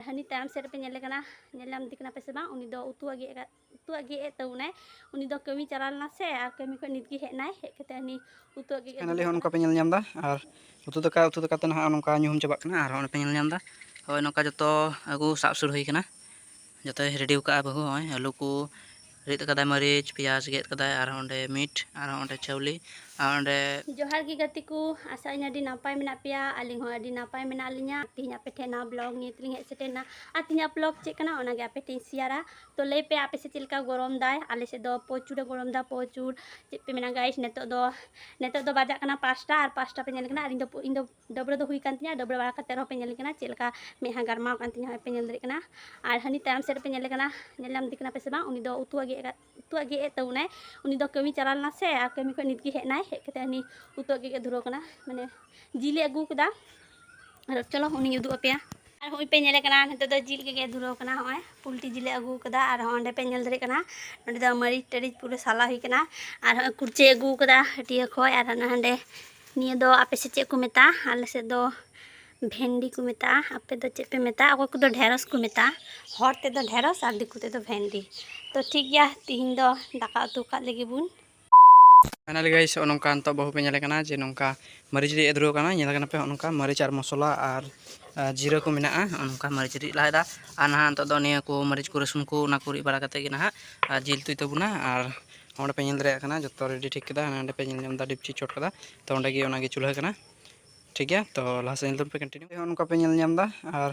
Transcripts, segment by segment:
ᱦᱟᱹᱱᱤ ᱛᱟᱭᱚᱢ ᱥᱮᱫ ᱨᱮᱯᱮ ᱧᱮᱞᱮ ᱠᱟᱱᱟ ᱧᱮᱞ ᱧᱟᱢᱫᱮ ᱠᱟᱱᱟ ᱯᱮ ᱥᱮ ᱵᱟᱝ ᱩᱱᱤ ᱫᱚ ᱩᱛᱩᱣᱟᱜ ᱜᱮᱫ ᱟᱠᱟᱫ ᱩᱛᱩᱣᱟᱜ ᱜᱮᱫ ᱮᱫ ᱛᱟᱵᱚᱱᱟᱭ ᱩᱱᱤ ᱫᱚ ᱠᱟᱹᱢᱤ ᱪᱟᱞᱟᱣ ᱞᱮᱱᱟ ᱥᱮ ᱟᱨ ᱠᱟᱹᱢᱤ ᱠᱷᱚᱱ ᱱᱤᱛ ᱜᱮ ᱦᱮᱡ ᱮᱱᱟᱭ ᱦᱮᱡ ᱠᱟᱛᱮ ᱦᱟᱹᱱᱤ ᱩᱛᱩᱣᱟᱜ ᱜᱮᱫ ᱯᱷᱟᱭᱱᱟᱞᱤ ᱦᱚᱸ ᱱᱚᱝᱠᱟ ᱯᱮ ᱧᱮᱞ ᱧᱟᱢᱫᱟ ᱟᱨ ᱩᱛᱩ ᱫᱟᱠᱟ ᱩᱛᱩ ᱫᱟᱠᱟ ᱛᱮ ᱱᱟᱦᱟᱜ ᱱᱚᱝᱠᱟ ᱧᱩᱦᱩᱢ ᱪᱟᱵᱟᱜ ᱠᱟᱱᱟ ᱟᱨ ᱦᱚᱸ ᱯᱮ ᱧᱮᱞ ᱧᱟᱢᱫᱟ ᱦᱳᱭ ᱱᱚᱝᱠᱟ ᱡᱚᱛᱚ ᱟᱹᱜᱩ ᱥᱟᱵ ᱥᱩᱨ ᱦᱩᱭ ᱠᱟᱱᱟ ᱡᱚᱛᱚᱭ ᱨᱮᱰᱤ ᱟᱠᱟᱫᱼᱟ ᱵᱟᱹᱦᱩ ᱦᱚᱸᱜᱼᱚᱭ ᱟᱹᱞᱩ ᱠᱚ ᱨᱤᱫ ᱟᱠᱟᱫᱟᱭ ᱢᱟᱹᱨᱤᱪ ᱯᱮᱸᱭᱟᱡᱽ ᱜᱮᱫ ᱟᱠᱟᱫᱟᱭ ᱟᱨᱦᱚᱸ ᱚᱸᱰᱮ ᱢᱤᱴ ᱟᱨᱦᱚᱸ ᱚᱸᱰᱮ ᱪᱟᱣᱞᱮ ᱟᱨ ᱚᱸᱰᱮ ᱡᱚᱦᱟᱨ ᱜᱮ ᱜᱟᱛᱮ ᱠᱚ ᱟᱥᱟᱜ ᱟᱹᱧ ᱟᱹᱰᱤ ᱱᱟᱯᱟᱭ ᱢᱮᱱᱟᱜ ᱯᱮᱭᱟ ᱟᱹᱞᱤᱧ ᱦᱚᱸ ᱟᱹᱰᱤ ᱱᱟᱯᱟᱭ ᱢᱮᱱᱟᱜ ᱞᱤᱧᱟ ᱛᱮᱦᱮᱧ ᱟᱯᱮ ᱴᱷᱮᱱ ᱱᱟᱣᱟ ᱵᱞᱚᱜ ᱱᱤᱭᱮ ᱛᱮᱞᱤᱧ ᱦᱮᱡ ᱥᱮᱴᱮᱨᱱᱟ ᱟᱨ ᱛᱮᱦᱮᱧᱟᱜ ᱵᱞᱚᱜ ᱪᱮᱫ ᱠᱟᱱᱟ ᱚᱱᱟᱜᱮ ᱟᱯᱮ ᱴᱷᱮᱱ ᱥᱮᱭᱟᱨᱟ ᱛᱚ ᱞᱟᱹᱭ ᱯᱮ ᱟᱯᱮ ᱥᱮᱫ ᱪᱮᱫ ᱞᱮᱠᱟ ᱜᱚᱨᱚᱢ ᱫᱟᱭ ᱟᱞᱮ ᱥᱮᱫ ᱫᱚ ᱯᱨᱚᱪᱩᱨ ᱜᱚᱨᱚᱢ ᱫᱟ ᱯᱨᱚᱪᱩᱨ ᱪᱮᱫ ᱯᱮ ᱢᱮᱱᱟ ᱜᱟᱭᱤᱥ ᱱᱤᱛᱚᱜ ᱫᱚ ᱱᱤᱛᱚᱜ ᱫᱚ ᱵᱟᱡᱟᱜ ᱠᱟᱱᱟ ᱯᱟᱸᱪᱴᱟ ᱟᱨ ᱯᱟᱸᱪᱴᱟ ᱯᱮ ᱧᱮᱞ ᱠᱟᱱᱟ ᱟᱨ ᱤᱧ ᱫᱚ ᱰᱟᱹᱵᱽᱨᱟᱹ ᱫᱚ ᱦᱩᱭ ᱠᱟᱱ ᱛᱤᱧᱟ ᱰᱟᱹᱵᱽᱨᱟᱹ ᱵᱟᱲᱟ ᱠᱟᱛᱮ ᱨᱮᱦᱚᱸ ᱯᱮ ᱧᱮᱞ ᱠᱟᱱᱟ ᱪᱮᱫ ᱞᱮᱠᱟ ᱢᱮᱫᱦᱟ ᱜᱟᱨᱢᱟᱣ ᱠᱟᱱ ᱛᱤᱧᱟ ᱯᱮ ᱧᱮᱞ ᱫᱟᱲᱮᱭᱟᱜ ᱠᱟᱱᱟ ᱟᱨ ᱦᱟᱹᱱᱤ ᱛᱟᱭᱚᱢ ᱥᱮᱫ ᱨᱮᱯᱮ ᱧᱮᱞ ᱠᱟᱱᱟ ᱧᱮᱞ ᱧᱟᱢ ᱫᱮ ᱠᱟᱱᱟ ᱯᱮ ᱥᱮ ᱵᱟᱝ ᱩᱱᱤ ᱫᱚ ᱩᱛᱩᱣᱟᱜ ᱜᱮᱫ ᱟᱠᱟᱫ ᱩᱛᱩᱣᱟᱜ ᱜᱮᱫ ᱮᱫ ᱛᱟᱵᱚᱱᱟᱭ ᱩᱱᱤ ᱫᱚ ᱠᱟᱹᱢᱤ ᱪᱟᱞᱟᱣ ᱞᱮᱱᱟ ᱥᱮ ᱟᱨ ᱠᱟᱹᱢᱤ ᱠᱷᱚᱱ ᱱᱤᱛ ᱜᱮ ᱦᱮᱡ ᱮᱱᱟᱭ ᱦᱮᱡ ᱠᱟᱛᱮ ᱦᱟᱹᱱᱤ ᱩᱛᱩᱣᱟᱜ ᱜᱮᱫ ᱮ ᱫᱷᱩᱨᱟᱹᱣ ᱠᱟᱱᱟ ᱢᱟᱱᱮ ᱡᱤᱞᱮ ᱟᱹᱜᱩ ᱠᱟᱫᱟ ᱟᱨ ᱪᱚᱞᱚ ᱩᱱᱤᱧ ᱩᱫᱩᱜ ᱟᱯᱮᱭᱟ ᱟᱨ ᱦᱚᱸᱜᱼᱚᱭ ᱯᱮ ᱧᱮᱞᱮ ᱠᱟᱱᱟ ᱱᱤᱛᱚᱜ ᱫᱚ ᱡᱤᱞ ᱜᱮ ᱫᱷᱩᱨᱟᱹᱣ ᱠᱟᱱᱟ ᱦᱚᱸᱜᱼᱚᱭ ᱯᱩᱞᱴᱤ ᱡᱤᱞᱮ ᱟᱹᱜᱩ ᱠᱟᱫᱟ ᱟᱨ ᱦᱚᱸᱜᱼᱚᱭ ᱚᱸᱰᱮ ᱯᱮ ᱧᱮᱞ ᱫᱟᱲᱮᱭᱟᱜ ᱠᱟᱱᱟ ᱱᱚᱸᱰᱮ ᱫᱚ ᱢᱟᱹᱨᱤᱪ ᱴᱟᱹᱨᱤᱪ ᱯᱩᱨᱟᱹ ᱥᱟᱞᱟ ᱦᱩᱭ ᱠᱟᱱᱟ ᱟᱨ ᱦᱚᱸᱜᱼᱚᱭ ᱠᱩᱲᱪᱟᱹᱭ ᱟᱹᱜᱩ ᱠᱟᱫᱟ ᱦᱟᱹᱴᱤᱭᱟᱹ ᱠᱷᱚᱡ ᱟᱨ ᱦᱟᱱᱟ ᱦᱟᱸᱰᱮ ᱱᱤᱭᱟᱹ ᱫᱚ ᱟᱯᱮ ᱥᱮᱫ ᱪᱮᱫ ᱠᱚ ᱢᱮᱛᱟᱜᱼᱟ ᱟᱞᱮ ᱥᱮᱫ ᱫᱚ ᱵᱷᱮᱱᱰᱤ ᱠᱚ ᱢᱮᱛᱟᱜᱼᱟ ᱟᱯᱮ ᱫᱚ ᱪᱮᱫ ᱯᱮ ᱢᱮᱛᱟᱜᱼᱟ ᱚᱠᱚᱭ ᱠᱚᱫᱚ ᱰᱷᱮᱸᱲᱚᱥ ᱠᱚ ᱢᱮᱛᱟᱜᱼᱟ ᱦᱚᱲ ᱛᱮᱫᱚ ᱰᱷᱮᱸᱲᱚᱥ ᱟᱨ ᱫᱤᱠᱩ ᱛᱮᱫᱚ ᱵᱷᱮᱱᱰᱤ ᱛᱚ ᱴᱷᱤᱠ ᱜᱮᱭᱟ ᱛᱤᱦᱤᱧ ᱫᱚ ᱫᱟᱠᱟ ᱩᱛᱩ ᱠᱟᱜ ᱞᱮᱜᱮ ᱵᱚᱱ ᱯᱷᱟᱭᱱᱟᱞᱤ ᱜᱟᱭ ᱥᱮ ᱱᱚᱝᱠᱟ ᱱᱤᱛᱚᱜ ᱵᱟᱹᱦᱩ ᱯᱮ ᱧᱮᱞᱮ ᱠᱟᱱᱟ ᱡᱮ ᱱᱚᱝᱠᱟ ᱢᱟᱹᱨᱤᱪ ᱨᱤᱫ ᱫᱷᱩᱨᱟᱹᱣ ᱠᱟᱱᱟ ᱧᱮᱞ ᱠᱟᱱᱟ ᱯᱮ ᱱᱚᱝᱠᱟ ᱢᱟᱹᱨᱤᱪ ᱟᱨ ᱢᱚᱥᱞᱟ ᱟᱨ ᱡᱤᱨᱟᱹ ᱠᱚ ᱢᱮᱱᱟᱜᱼᱟ ᱱᱚᱝᱠᱟ ᱢᱟᱹᱨᱤᱪ ᱨᱤᱫ ᱞᱟᱦᱟᱭᱮᱫᱟ ᱟᱨ ᱱᱟᱦᱟᱜ ᱱᱤᱛᱚᱜ ᱫᱚ ᱱᱤᱭᱟᱹ ᱠᱚ ᱢᱟᱹᱨᱤᱪ ᱠᱚ ᱨᱟᱹᱥᱩᱱ ᱠᱚ ᱚᱱᱟ ᱠᱚ ᱨᱤᱫ ᱵᱟᱲᱟ ᱠᱟᱛᱮᱫ ᱜᱮ ᱱᱟᱦᱟᱜ ᱟᱨ ᱡᱤᱞ ᱩᱛᱩᱭ ᱛᱟᱵᱚᱱᱟ ᱟᱨ ᱚᱸᱰᱮ ᱯᱮ ᱧᱮᱞ ᱫᱟᱲᱮᱭᱟᱜ ᱠᱟᱱᱟ ᱡᱚᱛᱚ ᱨᱮᱰᱤ ᱴᱷᱤᱠ ᱠᱮᱫᱟ ᱦᱟᱸᱰᱮ ᱯᱮ ᱧᱮᱞ ᱧᱟᱢᱫᱟ ᱰᱤᱯᱪᱤ ᱪᱚᱴ ᱠᱟᱫᱟ ᱛᱚ ᱚᱸᱰᱮ ᱜᱮ ᱚᱱᱟᱜᱮ ᱪᱩᱞᱦᱟᱹ ᱠᱟᱱᱟ ᱴᱷᱤᱠ ᱜᱮᱭᱟ ᱛᱚ ᱞᱟᱦᱟ ᱥᱮᱫ ᱧᱮᱞ ᱛᱟᱵᱚᱱ ᱯᱮ ᱠᱚᱱᱴᱤᱱᱤᱭᱩ ᱱᱚᱝᱠᱟ ᱯᱮ ᱧᱮᱞ ᱧᱟᱢᱫᱟ ᱟᱨ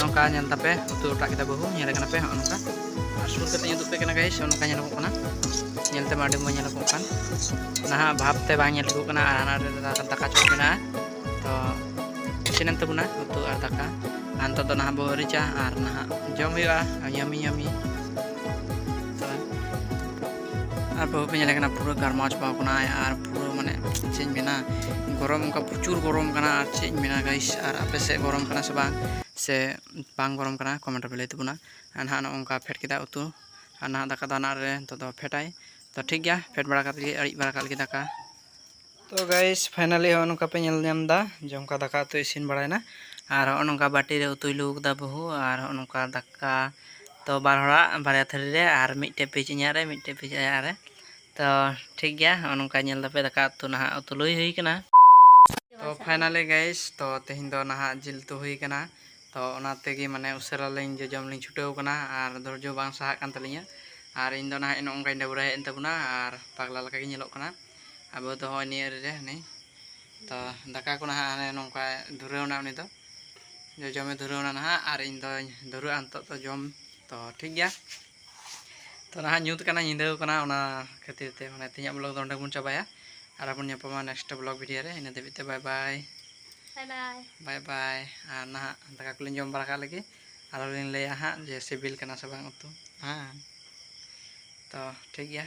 ᱱᱚᱝᱠᱟ ᱧᱮᱞ ᱛᱟᱯᱮ ᱩᱛᱩ ᱚᱴᱟᱜ ᱠᱮᱫᱟ ᱵᱟᱹᱦᱩ ᱧᱮᱞ ᱠᱟᱱᱟ ᱯᱮ ᱦᱚᱸᱜᱼᱚ ᱱᱚᱝᱠᱟ ᱟᱨ ᱥᱩᱨ ᱠᱟᱛᱮ ᱩᱫᱩᱜ ᱯᱮ ᱠᱟᱱᱟ ᱜᱟᱭᱤᱥ ᱦᱚᱸᱜᱼᱚ ᱱᱚᱝᱠᱟ ᱧᱮᱞᱚᱜᱚᱜ ᱠᱟᱱᱟ ᱧᱮᱞ ᱛᱮᱢᱟ ᱟᱹᱰᱤ ᱢᱚᱡᱽ ᱧᱮᱞᱚᱜᱚᱜ ᱠᱟᱱ ᱱᱟᱦᱟᱜ ᱵᱷᱟᱵᱽ ᱛᱮ ᱵᱟᱝ ᱧᱮᱞ ᱴᱷᱤᱠᱚᱜ ᱠᱟᱱᱟ ᱟᱨ ᱦᱟᱱᱟ ᱨᱮ ᱫᱟᱠᱟ ᱪᱚᱴ ᱢᱮᱱᱟᱜᱼᱟ ᱛᱚ ᱤᱥᱤᱱᱮᱱ ᱛᱟᱵᱚᱱᱟ ᱩᱛᱩ ᱟᱨ ᱫᱟᱠᱟ ᱟᱨ ᱱᱤᱛᱚᱜ ᱫᱚ ᱱᱟᱦᱟᱜ ᱵᱚ ᱟᱹᱨᱤᱪᱟ ᱟᱨ ᱱᱟᱦᱟᱜ ᱡᱚᱢ ᱦᱩᱭᱩᱜᱼᱟ ᱭᱟᱢᱤ ᱭᱟᱢᱤ ᱟᱨ ᱵᱟᱹᱦᱩ ᱯᱮ ᱧᱮᱞᱮ ᱠᱟᱱᱟ ᱯᱩᱨᱟᱹ ᱜᱟᱨᱢᱟᱣ ᱪᱟᱵᱟᱣ ᱠᱟᱱᱟᱭ ᱟᱨ ᱯᱩᱨᱟᱹ ᱢᱟᱱᱮ ᱪᱮᱫ ᱤᱧ ᱢᱮᱱᱟ ᱜᱚᱨᱚᱢ ᱚᱱᱠᱟ ᱯᱨᱚᱪᱩᱨ ᱜᱚᱨᱚᱢ ᱠᱟᱱᱟ ᱟᱨ ᱪᱮᱫ ᱤᱧ ᱢᱮᱱᱟ ᱜᱟᱭᱤᱥ ᱟᱨ ᱟᱯᱮ ᱥᱮᱫ ᱜᱚᱨᱚᱢ ᱠᱟᱱᱟ ᱥᱮ ᱵᱟᱝ ᱥᱮ ᱵᱟᱝ ᱜᱚᱨᱚᱢ ᱠᱟᱱᱟ ᱠᱚᱢᱮᱱᱴ ᱨᱮᱯᱮ ᱞᱟᱹᱭ ᱛᱟᱵᱚᱱᱟ ᱟᱨ ᱱᱟᱦᱟᱜ ᱱᱚᱜᱼᱚ ᱱᱚᱝᱠᱟ ᱯᱷᱮᱰ ᱠᱮᱫᱟ ᱩᱛᱩ ᱟᱨ ᱱᱟᱦᱟᱜ ᱫᱟᱠᱟ ᱫᱟᱱᱟ ᱨᱮ ᱱᱤᱛᱚᱜ ᱫᱚ ᱯᱷᱮᱰᱟᱭ ᱛᱚ ᱴᱷᱤᱠ ᱜᱮᱭᱟ ᱯᱷᱮᱰ ᱵᱟᱲᱟ ᱠᱟᱛᱮᱫ ᱜᱮ ᱟᱹᱲᱤᱡ ᱵᱟᱲᱟ ᱠᱟᱜ ᱞᱮᱜᱮ ᱫᱟᱠᱟ ᱛᱚ ᱜᱟᱭᱤᱥ ᱯᱷᱟᱭᱱᱟᱞᱤ ᱦᱚᱸᱜᱼᱚ ᱱᱚᱝᱠᱟ ᱯᱮ ᱧᱮᱞ ᱧᱟᱢ ᱮᱫᱟ ᱡᱚᱢᱠᱟ ᱫᱟᱠᱟ ᱩᱛᱩ ᱤᱥᱤᱱ ᱵᱟᱲᱟᱭᱮᱱᱟ ᱟᱨ ᱦᱚᱸᱜᱼᱚ ᱱᱚᱝᱠᱟ ᱵᱟᱹᱴᱤ ᱨᱮ ᱩᱛᱩᱭ ᱞᱩ ᱠᱮᱫᱟ ᱵᱟᱹᱦᱩ ᱟᱨ ᱦᱚᱸᱜᱼᱚ ᱱᱚᱝᱠᱟ ᱫᱟᱠᱟ ᱛᱚ ᱵᱟᱨ ᱦᱚᱲᱟᱜ ᱵᱟᱨᱭᱟ ᱛᱷᱟᱹᱨᱤ ᱨᱮ ᱟᱨ ᱢᱤᱫᱴᱮᱡ ᱯᱤᱪ ᱤᱧᱟᱹᱜ ᱨᱮ ᱢᱤᱫᱴᱮᱡ ᱯᱤᱪ ᱟᱭᱟᱜ ᱨᱮ ᱛᱚ ᱴᱷᱤᱠ ᱜᱮᱭᱟ ᱦᱚᱸᱜᱼᱚ ᱱᱚᱝᱠᱟ ᱧᱮᱞ ᱫᱟᱯᱮ ᱫᱟᱠᱟ ᱩᱛᱩ ᱱᱟᱦᱟᱜ ᱩᱛᱩ ᱞᱩᱭ ᱦᱩᱭ ᱠᱟᱱᱟ ᱛᱚ ᱯᱷᱟᱭᱱᱟᱞᱤ ᱜᱟᱭᱤᱥ ᱛᱚ ᱛᱮᱦᱮᱧ ᱫᱚ ᱱᱟᱦᱟᱜ ᱡᱤᱞ ᱩᱛᱩ ᱦᱩᱭ ᱠᱟᱱᱟ ᱛᱚ ᱚᱱᱟ ᱛᱮᱜᱮ ᱢᱟᱱᱮ ᱩᱥᱟᱹᱨᱟ ᱞᱤᱧ ᱡᱚᱡᱚᱢ ᱞᱤᱧ ᱪᱷᱩᱴᱟᱹᱣ ᱠᱟᱱᱟ ᱟᱨ ᱫᱷᱳᱨᱡᱚ ᱵᱟᱝ ᱥᱟᱦᱟᱜ ᱠᱟᱱ ᱛᱟᱹᱞᱤᱧᱟ ᱟᱨ ᱤᱧ ᱫᱚ ᱱᱟᱦᱟᱜ ᱱᱚᱜᱼᱚ ᱱᱚᱝᱠᱟᱧ ᱰᱟᱹᱵᱽᱨᱟᱹ ᱦᱮᱡ ᱮᱱ ᱛᱟᱵᱚᱱᱟ ᱟᱨ ᱯᱟᱜᱽᱞᱟ ᱞᱮᱠᱟ ᱜᱮ ᱧᱮᱞᱚᱜ ᱠᱟᱱᱟ ᱟᱵᱚ ᱫᱚ ᱦᱚᱸᱜᱼᱚᱭ ᱱᱤᱭᱟᱹ ᱨᱮ ᱦᱟᱱᱮ ᱛᱚ ᱫᱟᱠᱟ ᱠᱚ ᱱᱟᱦᱟᱜ ᱦᱟᱱᱮ ᱱᱚᱝᱠᱟ ᱫᱷᱩᱨᱟᱹᱣᱱᱟ ᱩᱱᱤ ᱫᱚ ᱡᱚᱡᱚᱢᱮ ᱫᱷᱩᱨᱟᱹᱣᱱᱟ ᱱᱟᱦᱟᱜ ᱟᱨ ᱤᱧ ᱫᱚᱧ ᱫᱷᱩᱨᱟᱹᱜᱼᱟ ᱱᱤᱛᱚᱜ ᱫᱚ ᱡᱚᱢ ᱛᱚ ᱴᱷᱤᱠ ᱜᱮᱭᱟ ᱛᱚ ᱱᱟᱦᱟᱜ ᱧᱩᱛ ᱠᱟᱱᱟ ᱧᱤᱫᱟᱹ ᱠᱟᱱᱟ ᱚᱱᱟ ᱠᱷᱟᱹᱛᱤᱨ ᱛᱮ ᱢᱟᱱᱮ ᱛᱮᱦᱮᱧᱟᱜ ᱵᱞᱚᱜ ᱫᱚ ᱚᱸᱰᱮ ᱵᱚᱱ ᱪᱟᱵᱟᱭᱟ ᱟᱨ ᱟᱵᱚᱱ ᱧᱟᱯᱟᱢᱟ ᱱᱮᱠᱥᱴ ᱵᱞᱚᱜ ᱵᱷᱤᱰᱤᱭᱳ ᱨᱮ ᱤᱱᱟᱹ ᱫᱷᱟᱹᱵᱤᱡ ᱛᱮ ᱵᱟᱭ ᱵᱟᱭ ᱵᱟᱭ ᱵᱟᱭ ᱟᱨ ᱱᱟᱦᱟᱜ ᱫᱟᱠᱟ ᱠᱚᱞᱤᱧ ᱡᱚᱢ ᱵᱟᱲᱟ ᱠᱟᱜ ᱞᱮᱜᱮ ᱟᱨᱚ ᱞᱤᱧ ᱞᱟᱹᱭᱟ ᱦᱟᱸᱜ ᱡᱮ ᱥᱤᱵᱤᱞ ᱠᱟᱱᱟ ᱥᱮ ᱵᱟᱝ ᱩᱛᱩ ᱦᱮᱸ ᱛᱚ ᱴᱷᱤᱠ ᱜᱮᱭᱟ